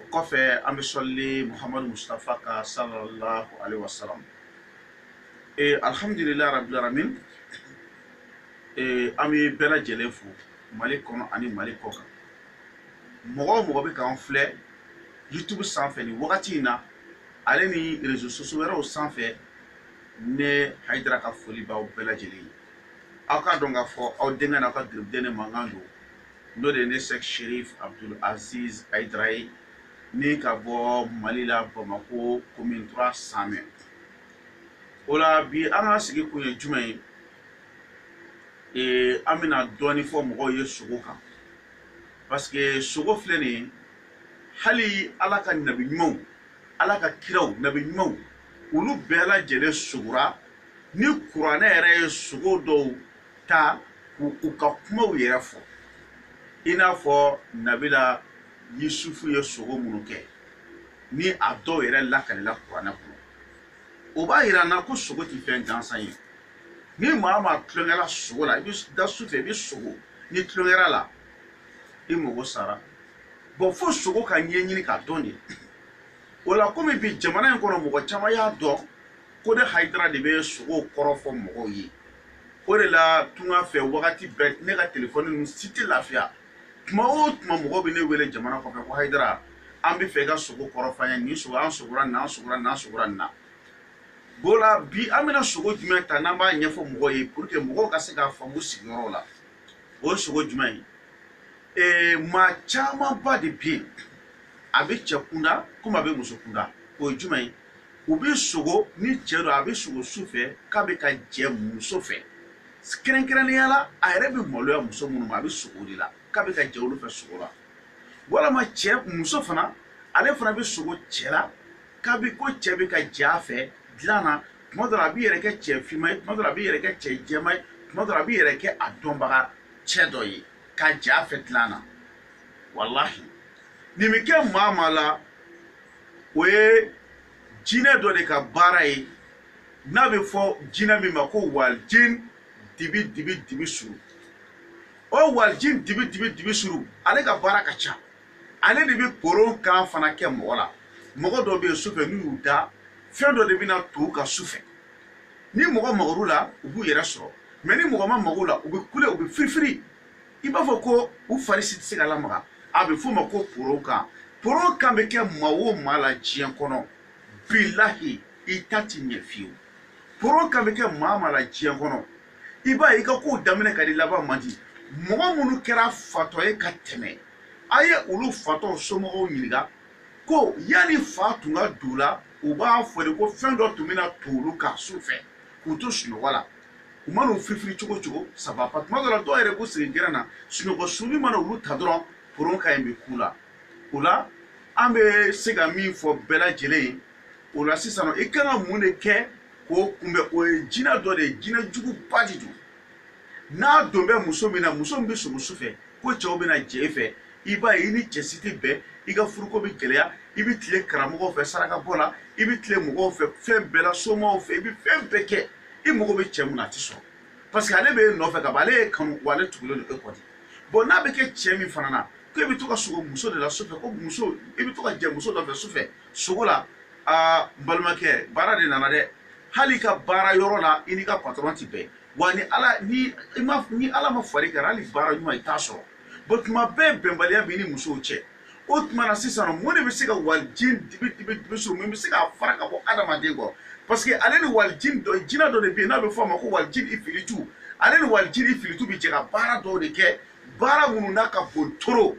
o kɔfɛ an bɛ sɔlili muhamadu mustafa kan sallallahu alaihi wasallam ee alhamdulilayi rabbil alamin ee an bɛ bɛɛ lajɛlen fo mali kɔnɔ ani mali kɔ kan mɔgɔ o mɔgɔ bɛ k'an filɛ youtube sanfɛ nin wagati in na ale ni réseaux sociaux wɛrɛw sanfɛ ne hayidara ka foli b'aw bɛɛ lajɛlen ye aw k'a dɔn k'a fɔ aw denkɛ n'aw ka garibuden ne mankan don n'o de ye ne Sɛki Serif Abudul Aziz Hayidara ye ni ka bɔ Mali la Bamako commune 3 Samɛ o la bi an ka sigi kun ye jumɛn ye ee an bɛna dɔɔni fɔ mɔgɔw ye sogo kan parce que sogo filɛ nin ye hali Ala ka nabi ɲumanw Ala ka kiraw nabi ɲumanw olu bɛɛ lajɛlen sogora ni kuranɛ yɛrɛ ye sogo dɔw ta k'u ka kumaw yɛrɛ fɔ i n'a fɔ nabila yusufu ye sogo minnu kɛ ni a dɔw yɛrɛ lakalila kuranɛ kɔnɔ o b'a yira an na ko sogo tɛ fɛn gansan ye ni maa maa tulonkɛla sogo la i bɛ da su fɛ i bɛ sogo n'i tulonkɛl'a la i mago sara bon fo sogo ka ɲɛɲini k'a dɔn de o la komi bi jamana in kɔnɔ mɔgɔ caman y'a dɔn ko ne hayidara de bɛ sogow kɔrɔ fɔ mɔgɔw ye o de la tunga fɛ wagati bɛɛ ne ka telefɔni ninnu si tɛ lafiya tuma o tuma mɔgɔw bɛ ne wele jamana kɔfɛ ko hayidara an b'a fɛ i ka sogo kɔrɔ fɔ an ye nin sogo an sogora nin an sogora nin an sogora nin na o la bi an bɛna sogo jumɛn ta n'an b'a ɲɛfɔ mɔgɔw ye pour que mɔgɔw ka se k'a faamu sigiyɔrɔ la o ye sogo jumɛn ye ee maa camanba de bɛ yen a bɛ cɛ kunda komi a bɛ muso kunda o ye jumɛn ye u bɛ sogo ni cɛ don a bɛ sogo su fɛ k'a bɛ ka jɛ muso fɛ kɛrɛnkɛrɛnnenya la a yɛrɛ bɛ maloya muso minnu ma a bɛ sogo de la k'a bɛ ka jɛ olu fɛ sogo la walama cɛ muso fana ale fana bɛ sogo cɛ la k'a bɛ ko cɛ bɛ ka jɛ a fɛ dilan na tuma dɔ la a b'i yɛrɛ kɛ cɛ finma ye tuma dɔ la a b'i yɛrɛ kɛ cɛ jɛma ye tuma dɔ la a b'i yɛrɛ kɛ a dɔnbaga cɛ dɔ ye ka jɛ a fɛ dilan na walahi nin bɛ kɛ maa maa la o ye jinɛ dɔ de ka baara ye n'a bɛ fɔ jinɛ min ma ko walijin dibi dibi dibi suru o walijin dibi dibi dibi suru ale ka baara ka ca ale de bɛ koron kan fana kɛ mɔgɔ la mɔgɔ dɔw bɛ yen sufɛ n'u y'u da fɛn dɔ de bɛna to u kan sufɛ ni mɔgɔ magara u la u b'u yɛrɛ sɔrɔ mais ni mɔgɔ ma maga u la u bɛ kule u bɛ firifiri i b'a fɔ ko u fari si tɛ se ka lamaga a bɛ f'o ma ko poro kan poro kan bɛ kɛ maa o maa la diɲɛ kɔnɔ bilahi i ta ti ɲɛ fiyewu poro kan bɛ kɛ maa maa la diɲɛ kɔnɔ i b'a ye i ka kow daminɛ ka di laban man di mɔgɔ minnu kɛra fatɔ ye ka tɛmɛ a ye olu fatɔw somɔgɔw ɲininka ko yanni fa tun ka don u la u b'a fɔ de ko fɛn dɔ tun bɛ na to olu kan su fɛ k'u to sunɔgɔ la u mana u firifiri cogo cogo ça va pas tuma dɔ la dɔw yɛrɛ b'u sigi gɛrɛn na sunɔgɔ sunni mana olu ta dɔrɔn poron ka ɲi bɛ k'u la o la an bɛ se ka min fɔ bɛɛ lajɛlen ye o la sisan i kan ka mun de kɛ k'o kunbɛn o ye jinɛ dɔ de ye jinɛ juguba de don n'a don bɛ muso min na muso min bɛ sogo su fɛ ko cɛw bɛ na jɛ e fɛ i b'a ye i ni cɛ si tɛ bɛn i ka furuko bɛ gɛlɛya i bɛ tile karamɔgɔw fɛ sarakabɔ la i bɛ tile mɔgɔw fɛ fɛn bɛɛ la somaw fɛ i bɛ fɛn bɛɛ kɛ i mago bɛ cɛ min na a tɛ sɔrɔ parce que ale bɛ e nɔfɛ ka ban ale y'e kanu wa ale tugulen don e kɔ de bon n'a bɛ kɛ cɛ min fana na ko e bɛ to ka sogo muso de la sufɛ ko muso i bɛ to ka jɛ muso dɔ fɛ sufɛ sogo la aa n balimakɛ baara de nana dɛ hali i ka baara yɔrɔ la i n'i ka patɔrɔn tɛ bɛn wa ni ala ni i ma ni ala ma far'i kan hali baara ɲuman i t'a sɔrɔ bon tuma bɛɛ bɛnbaliya b'i ni musow cɛ o tuma na sisan mun de bɛ se ka walijini dibi dibi dibi suru min bɛ se k'a fara ka bɔ adamaden kɔ parce que ale ni walijini dɔ jinɛ dɔ de bɛ yen n'a bɛ fɔ a ma ko walijini ifilitu ale ni walijini ifilitu bɛ jɛ ka baara dɔw de kɛ baara minnu n'a ka bon trop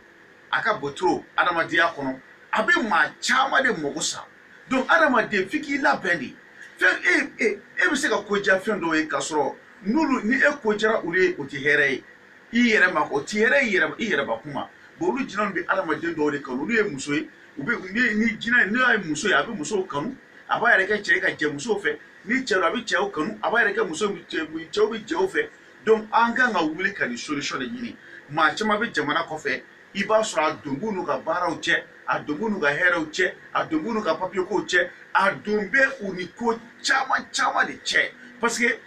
a ka bon trop adamadenya kɔnɔ a bɛ maa caman de mago sa donc adamaden f'i k'i labɛn de fɛn e e e bɛ se ka ko diya fɛn dɔw ye k'a sɔrɔ n'olu ni e ko diyara olu ye o tɛ hɛrɛ ye i yɛrɛ ma o ti hɛrɛ ye i yɛrɛ bakun ma bon olu jinɛw bɛ adamaden dɔw de kanu olu ye muso ye u bɛ ni ni jinɛ n'o ye muso ye a bɛ musow kanu a b'a yɛrɛ kɛ cɛ ye ka jɛ musow fɛ ni cɛ don a bɛ cɛw kanu a b'a yɛrɛ kɛ muso cɛw bɛ cɛw fɛ donc an kan ka wuli ka nin solution de ɲini maa caman bɛ jamana kɔfɛ i b'a sɔrɔ a don b'u n'u ka baaraw cɛ a don b'u n'u ka hɛrɛw cɛ a don b'u n'u ka papiyekow cɛ a don bɛ u ni ko caman caman de cɛ parce que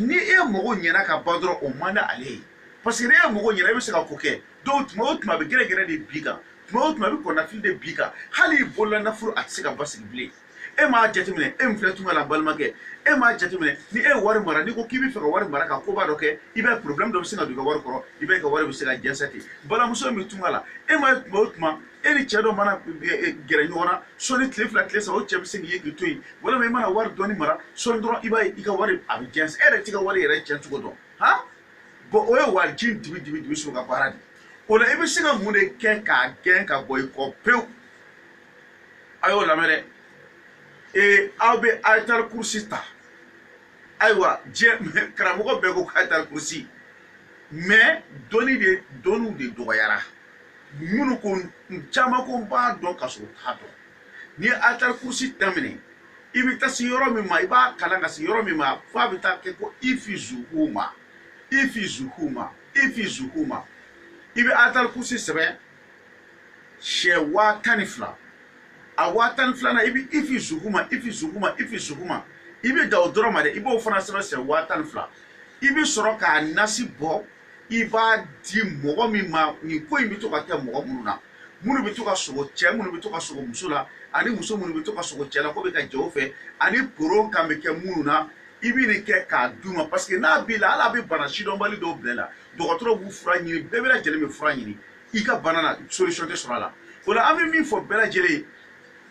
ni e mago ɲɛna ka ban dɔrɔn o man di ale ye parce que ni e mago ɲɛna e bɛ se ka ko kɛ donc tuma o tuma a bɛ gɛrɛgɛrɛ de bin i kan tuma o tuma a bɛ kɔnɔnafili de bin i kan hali i bolola nafolo a tɛ se ka basigi bilen e m'a jateminɛ e min filɛ tunga la balimakɛ e m'a jateminɛ ni e ye wari mara n'i ko k'i bɛ fɛ ka wari mara ka koba dɔ kɛ i b'a ye problème dɔ bɛ sin ka don i ka wari kɔrɔ i b'a ye i ka wari bɛ se ka jɛnsɛ ten balimamuso min bɛ tunga la e m'a ye tuma o tuma e ni cɛ dɔ mana e, e, gɛrɛ ɲɔgɔn na sɔɔni tile fila tile saba o cɛ bɛ se k'i ye k'i to yen walima i mana wari dɔɔni mara sɔɔni dɔrɔn i b'a ye i ka wari a bɛ jɛnsɛ e yɛrɛ t'i ka wari yɛrɛ cɛn cogo dɔn han bon o ye waji dibi dibi dibi so ka baara de o la i bɛ se ka mun de kɛ k'a gɛn ka bɔ i kɔ pewu a y'o lamɛn dɛ ee aw bɛ ayatal kurusi ta ayiwa diɲɛ karamɔgɔ bɛɛ ko ayatal kurusi mais dɔnni de dɔnniw de dɔgɔyara minnu ko caman ko n b'a dɔn ka sɔrɔ u t'a dɔn n'i ye ayatal kurusi daminɛ i bɛ taa se yɔrɔ min ma i b'a kalan ka se yɔrɔ min ma f'a bɛ taa kɛ ko hifzuhuma hifzuhuma hifzuhuma i bɛ ayatal kurusi sɛbɛn siɲɛ waa tan ni fila a waa tan ni filanan i bɛ hifzuhuma hifzuhuma hifzuhuma i bɛ dan o dɔrɔn ma dɛ i b'o fana sɛbɛn siɲɛ waa tan ni fila i bɛ sɔrɔ k'a nasi bɔ i b'a di mɔgɔ min ma nin ko in bɛ to ka kɛ mɔgɔ minnu na minnu bɛ to ka sogo cɛ minnu bɛ to ka sogo muso la ani muso minnu bɛ to ka sogo cɛ la k'o bɛ ka jɛ o fɛ ani poron kan bɛ kɛ minnu na i bɛ nin kɛ k'a d'u ma parce que n'a b'i la hali a bɛ bana sidɔnbali dɔw bila i la dɔgɔtɔrɔ b'u fura ɲini bɛɛ bɛɛ lajɛlen bɛ fura ɲini i ka bana na solution tɛ sɔrɔ a la o la an bɛ min fɔ bɛɛ lajɛlen ye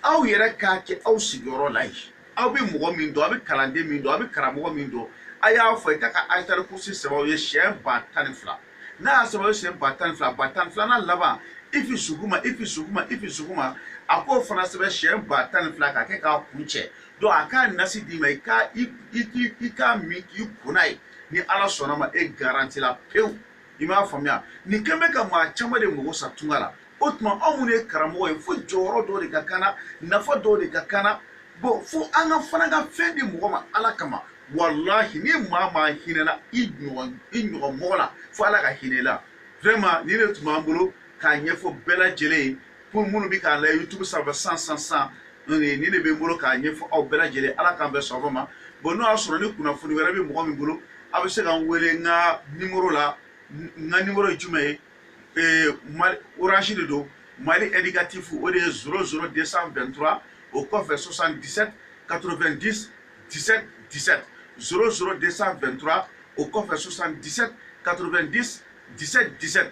aw yɛrɛ k'a kɛ aw sigiyɔrɔ la yen aw bɛ mɔgɔ min dɔn aw bɛ kalanden min dɔn aw bɛ karamɔgɔ min dɔn a y'a fɔ i ka ka ayatal kursi sɛbɛn aw ye siɲɛ ba tan ni fila n'a y'a sɛbɛn aw ye siɲɛ ba tan ni fila ba tan ni filanan laban hifzuhuma hifzuhuma hifzuhuma a k'o fana sɛbɛn siɲɛ ba tan ni fila k'a kɛ k'a kuncɛ donc a k'a nasi d'i ma i ka i k'a min k'i ko n'a ye ni ala sɔnna ma e garanti la pewu i m'a faamuya nin kɛn bɛ ka maa caman de mago sa tunga la o tuma anw minnu ye karamɔgɔ ye fo jɔyɔrɔ dɔw de ka k'an na nafa dɔw de ka k'an na bon fo an ka fana ka fɛn di mɔgɔ ma ala kama walahi ni maa maa hinɛna i ɲɔgɔn i ɲɔgɔn mɔgɔ la fo ala ka hinɛ i la vraiment nin de tun b'an bolo k'a ɲɛfɔ bɛɛ lajɛlen ye pour minnu bɛ k'an lajɛ youtube sanfɛ san san san nin de bɛ n bolo k'a ɲɛfɔ aw bɛɛ lajɛlen ala k'an bɛɛ sɔn ma bon n'o y'a sɔrɔ ni kunnafoni wɛrɛ bɛ mɔgɔ min bolo a bɛ se ka n wele n ka nimoro la n ka nimoro ye jumɛn ye ee orange de don mali indicatif o de ye zoro zoro 223 o kɔfɛ 77 90 17 17 zoro zoro 223 o kɔfɛ 77 90 17 17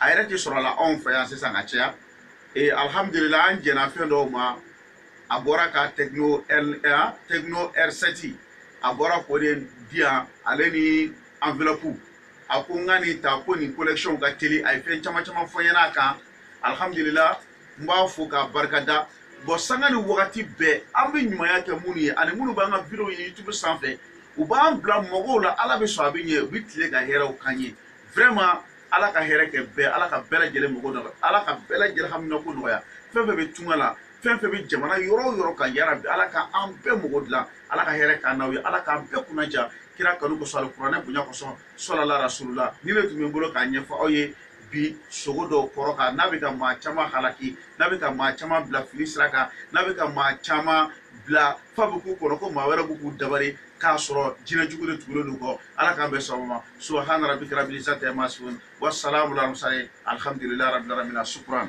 a yɛrɛ tɛ sɔrɔ la anw fɛ yan sisan ka caya ee alihamudulila an jɛnna fɛn dɔw ma a bɔra ka tecno r tecno r7 a bɔra k'o de di yan ale ni enveloppe a ko n ka nin ta ko nin connexion ka teli a ye fɛn caman caman fɔ n ɲɛna a kan alihamudulila n b'a fo k'a barika da bon sanga ni wagati bɛɛ an bɛ ɲumanya kɛ minnu ye ani minnu b'an ka videow ye youtube sanfɛ u b'an bila mɔgɔw la ala bɛ sɔn a bɛ ɲɛ u bɛ tila ka hɛrɛw k'an ye vraiment ala ka hɛrɛ kɛ bɛɛ ala ka bɛɛ lajɛlen mako nɔgɔya ala ka bɛɛ lajɛlen haminako nɔgɔya fɛn fɛn bɛ tunga la fɛn fɛn bɛ jamana yɔrɔ o yɔrɔ kan yarabi ala ka an bɛɛ mako dilan ala ka hɛrɛ k'an n'aw ye ala k'an bɛɛ kunnadiya kira kanu kosɔn alikuranɛ bonya kosɔn sɔlala rasulula nin de tun bɛ n bolo k'a ɲɛfɔ aw ye bi sugo dɔw kɔrɔ kan n'a bɛ ka maa caman halaki n'a bɛ ka maa caman bila fili sira kan n'a bɛ ka maa caman bila f'a bɛ k'u kɔnɔ ko maa wɛrɛ bɛ k'u dabari k'a sɔrɔ jinɛ jugu de tugulen don u kɔ ala k'an bɛɛ sababa subahana rabi karabi sa tɛ ma sun wa sala wula musa ye alihamdulilayi rabi rabi na sukuran